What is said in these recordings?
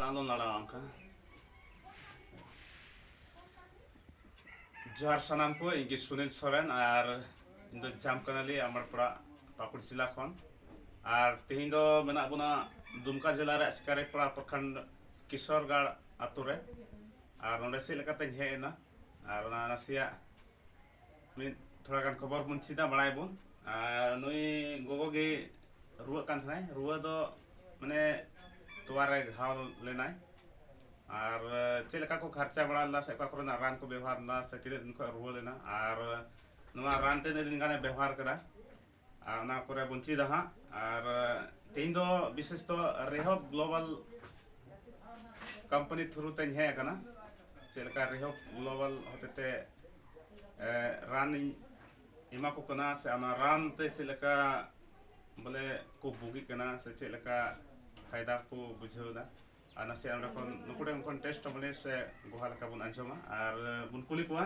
ᱟᱞᱚᱢ ᱫᱟᱲᱟᱣᱟ ᱚᱱᱠᱟ ᱡᱚᱦᱟᱨ ᱥᱟᱱᱟᱢ ᱠᱚ ᱤᱧ ᱜᱮ ᱥᱩᱱᱤᱞ ᱥᱚᱨᱮᱱ ᱟᱨ ᱤᱧ ᱫᱚ ᱡᱟᱢ ᱠᱟᱱᱟᱞᱤ ᱟᱢᱟᱨᱯᱟᱲᱟ ᱯᱟᱠᱩᱲ ᱡᱮᱞᱟ ᱠᱷᱚᱱ ᱟᱨ ᱛᱮᱦᱮᱧ ᱫᱚ ᱢᱮᱱᱟᱜ ᱵᱚᱱᱟ ᱫᱩᱢᱠᱟ ᱡᱮᱞᱟ ᱨᱮ ᱥᱤᱠᱟᱨᱤᱯᱟᱲᱟ ᱯᱨᱚᱠᱷᱚᱸᱰ ᱠᱤᱥᱚᱨᱜᱟᱲ ᱟᱛᱳ ᱨᱮ ᱟᱨ ᱱᱚᱰᱮ ᱪᱮᱫ ᱞᱮᱠᱟᱛᱮᱧ ᱦᱮᱡ ᱮᱱᱟ ᱟᱨ ᱚᱱᱟ ᱱᱟᱥᱮᱭᱟᱜ ᱢᱤᱫ ᱛᱷᱚᱲᱟ ᱜᱟᱱ ᱠᱷᱚᱵᱚᱨ ᱵᱚᱱ ᱪᱮᱫᱟ ᱵᱟᱲᱟᱭ ᱵᱚᱱ ᱟᱨ ᱱᱩᱭ ᱜᱚᱜᱚ ᱜᱮ ᱨᱩᱣᱟᱹᱜ ᱠᱟᱱ ᱛᱟᱦᱮᱱᱟᱭ ᱨᱩᱣᱟᱹ ᱫᱚ ᱢᱟᱱᱮ ᱛᱚᱣᱟ ᱨᱮ ᱜᱷᱟᱣ ᱞᱮᱱᱟᱭ ᱟᱨ ᱪᱮᱫ ᱞᱮᱠᱟ ᱠᱚ ᱠᱷᱟᱨᱪᱟ ᱵᱟᱲᱟ ᱞᱮᱫᱟ ᱥᱮ ᱚᱠᱟ ᱠᱚᱨᱮᱱᱟᱜ ᱨᱟᱱ ᱠᱚ ᱵᱮᱵᱚᱦᱟᱨ ᱞᱮᱫᱟ ᱥᱮ ᱛᱤᱱᱟᱹᱜ ᱫᱤᱱ ᱠᱷᱚᱱ ᱨᱩᱣᱟᱹ ᱞᱮᱱᱟ ᱟᱨ ᱱᱚᱣᱟ ᱨᱟᱱ ᱛᱤᱱᱟᱹᱜ ᱫᱤᱱ ᱜᱟᱱᱮ ᱵᱮᱵᱚᱦᱟᱨ ᱠᱮᱫᱟ ᱟᱨ ᱚᱱᱟ ᱯᱚᱨᱮ ᱵᱚᱱ ᱪᱮᱫᱟ ᱦᱟᱸᱜ ᱟᱨ ᱛᱮᱦᱮᱧ ᱫᱚ ᱵᱤᱥᱮᱥ ᱫᱚ ᱨᱮᱦᱚᱵ ᱜᱞᱳᱵᱟᱞ ᱠᱳᱢᱯᱟᱱᱤ ᱛᱷᱨᱩ ᱛᱮᱧ ᱦᱮᱡ ᱟᱠᱟᱱᱟ ᱪᱮᱫ ᱞᱮᱠᱟ ᱨᱮᱦᱚᱵ ᱜᱞᱳᱵᱟᱞ ᱦᱚᱛᱮᱛᱮ ᱨᱟᱱᱤᱧ ᱮᱢᱟ ᱠᱚ ᱠᱟᱱᱟ ᱥᱮ ᱚᱱᱟ ᱨᱟᱱ ᱛᱮ ᱪᱮᱫ ᱞᱮᱠᱟ ᱵᱚᱞᱮ ᱠᱚ ᱵᱩᱜᱤᱜ ᱠᱟᱱᱟ ᱥᱮ ᱪᱮᱫ ᱞᱮᱠᱟ ᱯᱷᱟᱭᱫᱟ ᱠᱚ ᱵᱩᱡᱷᱟᱹᱣᱫᱟ ᱟᱨ ᱱᱟᱥᱮ ᱚᱸᱰᱮ ᱠᱷᱚᱱ ᱱᱩᱠᱩ ᱴᱷᱮᱱ ᱠᱷᱚᱱ ᱴᱮᱥᱴ ᱵᱚᱞᱮ ᱥᱮ ᱜᱚᱦᱟ ᱞᱮᱠᱟ ᱵᱚᱱ ᱟᱸᱡᱚᱢᱟ ᱟᱨ ᱵᱚᱱ ᱠᱩᱞᱤ ᱠᱚᱣᱟ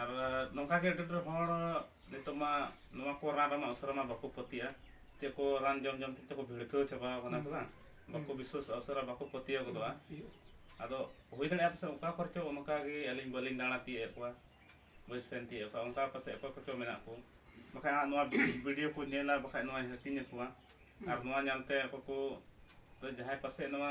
ᱟᱨ ᱱᱚᱝᱠᱟ ᱜᱮ ᱟᱹᱰᱤ ᱰᱷᱮᱨ ᱦᱚᱲ ᱱᱤᱛᱚᱜ ᱢᱟ ᱱᱚᱣᱟ ᱠᱚ ᱨᱟᱱ ᱨᱮᱢᱟ ᱩᱥᱟᱹᱨᱟ ᱢᱟ ᱵᱟᱠᱚ ᱯᱟᱹᱛᱭᱟᱹᱜᱼᱟ ᱪᱮᱫ ᱠᱚ ᱨᱟᱱ ᱡᱚᱢ ᱡᱚᱢ ᱛᱮ ᱪᱮᱫ ᱠᱚ ᱵᱷᱤᱲᱠᱟᱹᱣ ᱪᱟᱵᱟᱣ ᱠᱟᱱᱟ ᱥᱮ ᱵᱟᱝ ᱵᱟᱠᱚ ᱵᱤᱥᱥᱟᱹᱥᱚᱜᱼᱟ ᱩᱥᱟᱹᱨᱟ ᱵᱟᱠᱚ ᱯᱟᱹᱛᱭᱟᱹᱣ ᱜᱚᱫᱚᱜᱼᱟ ᱟᱫᱚ ᱦᱩᱭ ᱫᱟᱲᱮᱭᱟᱜᱼᱟ ᱯᱟᱥᱮᱡ ᱚᱠᱟ ᱠᱚᱨᱮ ᱪᱚ ᱚᱱᱠᱟ ᱜᱮ ᱟᱹᱞᱤᱧ ᱵᱟᱹᱞᱤᱧ ᱫᱟᱬᱟ ᱛᱤᱭᱳᱜ ᱮᱫ ᱠᱚᱣᱟ ᱵᱟᱹᱧ ᱥᱮᱱ ᱛᱤᱭᱳᱜ ᱮᱫ ᱠᱚᱣᱟ ᱚᱱᱠᱟ ᱯᱟᱥᱮᱡ ᱚᱠᱚᱭ ᱠᱚᱪᱚ ᱢᱮᱱᱟᱜ ᱠᱚ ᱵᱟᱠᱷᱟᱡ ᱦᱟᱸᱜ ᱱᱚᱣᱟ ᱵᱷᱤᱰᱤᱭᱳ ᱠᱚ ᱧᱮᱞᱟ ᱵᱟᱠᱷᱟᱡ ᱱᱚᱣᱟᱧ ᱦᱟᱹᱴᱤᱧ ᱟᱠᱚᱣᱟ ᱟᱨ ᱱᱚᱣᱟ ᱧᱟᱢᱛᱮ ᱚᱠᱚᱭ ᱠᱚ ᱡᱟᱦᱟᱸᱭ ᱯᱟᱥᱮᱡ ᱱᱚᱣᱟ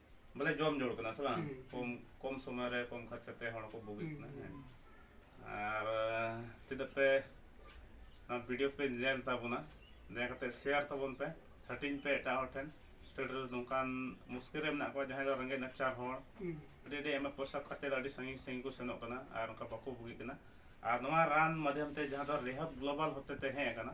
ᱵᱚᱞᱮ ᱡᱚᱢ ᱡᱳᱲ ᱠᱟᱱᱟ ᱥᱮ ᱵᱟᱝ ᱠᱚᱢ ᱠᱚᱢ ᱥᱚᱢᱚᱭ ᱨᱮ ᱠᱚᱢ ᱠᱷᱚᱨᱪᱟ ᱛᱮ ᱦᱚᱲ ᱠᱚ ᱵᱩᱜᱤᱜ ᱠᱟᱱᱟ ᱦᱮᱸ ᱟᱨ ᱛᱤᱱᱟᱹᱜ ᱯᱮ ᱱᱚᱣᱟ ᱵᱷᱤᱰᱤᱭᱳ ᱯᱮ ᱧᱮᱞ ᱛᱟᱵᱚᱱᱟ ᱫᱟᱭᱟ ᱠᱟᱛᱮ ᱥᱮᱭᱟᱨ ᱛᱟᱵᱚᱱ ᱯᱮ ᱦᱟᱹᱴᱤᱧ ᱯᱮ ᱮᱴᱟᱜ ᱦᱚᱲ ᱴᱷᱮᱱ ᱟᱹᱰᱤ ᱰᱷᱮᱨ ᱱᱚᱝᱠᱟᱱ ᱢᱩᱥᱠᱤᱞ ᱨᱮ ᱢᱮᱱᱟᱜ ᱠᱚᱣᱟ ᱡᱟᱦᱟᱸᱭ ᱫᱚ ᱨᱮᱸᱜᱮᱡ ᱱᱟᱪᱟᱨ ᱦᱚᱲ ᱟᱹᱰᱤ ᱟᱹᱰᱤ ᱟᱭᱢᱟ ᱯᱚᱭᱥᱟ ᱠᱷᱚᱨᱪᱟ ᱫᱚ ᱟᱹᱰᱤ ᱥᱟᱺᱜᱤᱧ ᱥᱟᱺᱜᱤᱧ ᱠᱚ ᱥᱮᱱᱚᱜ ᱠᱟᱱᱟ ᱟᱨ ᱚᱱᱠᱟ ᱵᱟᱠᱚ ᱵᱩᱜᱤᱜ ᱠᱟᱱᱟ ᱟᱨ ᱱᱚᱣᱟ ᱨᱟᱱ ᱢᱟᱫᱽᱫᱷᱚᱢ ᱛᱮ ᱡᱟᱦᱟᱸ ᱫᱚ ᱨᱮᱦᱟᱵ ᱜᱞᱳᱵᱟᱞ ᱦᱚᱛᱮᱛᱮ ᱦᱮᱡ ᱟᱠᱟᱱᱟ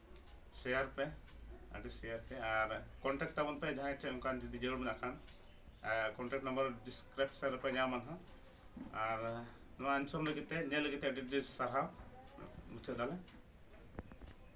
ᱥᱮᱭᱟᱨ ᱯᱮ ᱟᱹᱰᱤ ᱥᱮᱭᱟᱨ ᱯᱮ ᱟᱨ ᱠᱚᱱᱴᱟᱠᱴ ᱛᱟᱵᱚᱱ ᱯᱮ ᱡᱟᱦᱟᱸᱭ ᱴᱷᱮᱱ ᱚᱱᱠᱟᱱ ᱡᱩᱫᱤ ᱡᱟᱹᱨᱩᱲ ᱢᱮᱱᱟᱜ ᱠᱷᱟᱱ ᱠᱚᱱᱴᱟᱠᱴ ᱱᱟᱢᱵᱟᱨ ᱰᱤᱥᱠᱨᱤᱯᱥᱚᱱ ᱨᱮᱯᱮ ᱧᱟᱢᱟ ᱱᱟᱦᱟᱜ ᱟᱨ ᱱᱚᱣᱟ ᱟᱱᱥᱚᱨ ᱞᱟᱹᱜᱤᱫ ᱛᱮ ᱧᱮᱞ ᱞᱟᱹᱜᱤᱫ ᱛᱮ ᱟᱹᱰᱤ ᱟᱹᱰᱤ ᱥᱟᱨᱦᱟᱣ ᱢᱩᱪᱟᱹᱫ ᱫᱟᱞᱮ